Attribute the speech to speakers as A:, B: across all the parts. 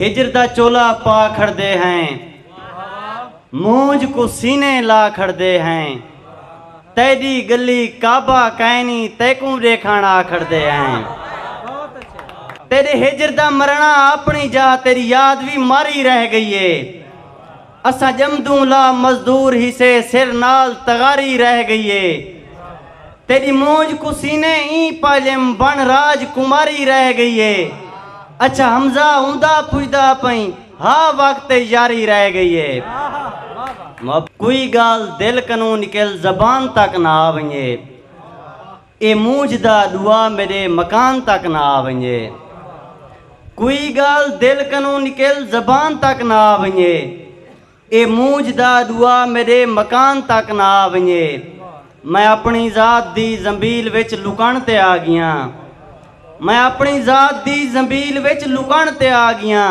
A: ہجر دا چولا پا کھڑدے ہیں مونجھ کوں سینے لا کھڑدے ہیں تیڈی گلی کعبہ کائنی تیکوں ڈیکھن آ کھڑدے ہیں تیڈے ہجر دا مرنا اپنی جا تیری یاد وی مر ہی رہ گئی ہے اساں ڄمدوں لا مزدور ہیسے سر نال تغاری رہ گئی اے تیݙی مونجھ کوں سینے ایں پاڄم بݨ راج کماری رہ گئی اے اچھا حمزہ اوندا پچھدا پئیں ہا وقت تے یاری رہ گئی اے کوئی ڳالھ دل کنوں نکل زبان تک نہ آ ونڄے۔ اے مونجھ دا ݙوا میݙے مکان تک نہ آ ونڄے۔ کوئی ڳالھ دل کنوں نکل زبان تک نہ آ ونڄے۔ اے مونجھ دا ݙوا میݙے مکان تک نہ آ ونڄے۔ میں اپݨی ذات دی زنبیل وچ لکݨ تے آ ڳیاں۔ میں اپݨی ذات دی زنبیل وچ لکݨ تے آ ڳیاں۔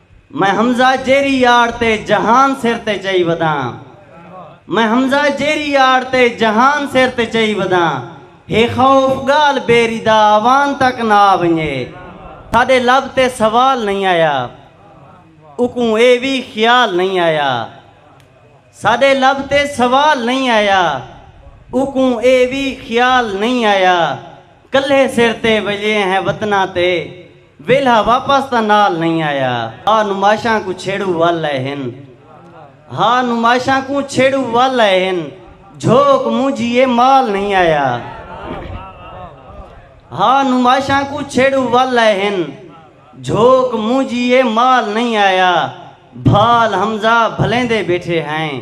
A: میں حمزہ جیری یار تے جہان سر تے چئی وداں میں حمزہ جیری یار تے جہان سر تے چئی وداں ہے خوف گالھ بیری دا اوان تک نہ آ ونجے ساڈے لب تے سوال نہیں آیا اوکوں اے وی خیال نہیں آیا ساڈے لب تے سوال نہیں آیا اوکوں اے وی خیال نہیں آیا کلھے سر تے وجے ہیں وطناں تے ویلھا واپس تاں نال نئیں آیا۔ ہا نمائشاں کوں چھیڑو ول اے ہن۔ ہا نمائشاں کوں چھیڑو ول اے ہن۔ جھوک مونجھی اے مال نئیں آیا۔ ہا نمائشاں کوں چھیڑو ول اے ہن۔ جھوک مونجھی اے مال نئیں آیا۔ بھال حمزہ بھلیندے بیٹھے ہیں۔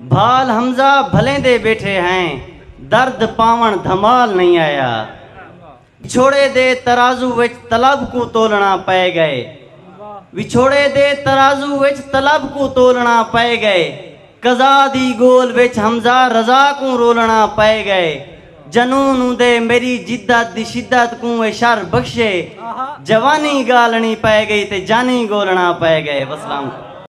A: بھال حمزہ بھلیندے بیٹھے ہیں۔ درد پاوݨ دھمال نئیں آیا۔ وچھوڑے دے ترازو وچ طلب کوں تولݨا پئے ڳئے وچھوڑے دے ترازو وچ طلب کوں تولݨا پئے ڳئے قضا دی ڳول وچ حمزہ رضا کوں رولݨا پئے ڳئے جنون اوندے میݙی جدت دی شدت کوں اے شر بخشے جوانی ڳالݨی پئے ڳئی تے جانی ڳولݨا پئے ڳئے وسلام۔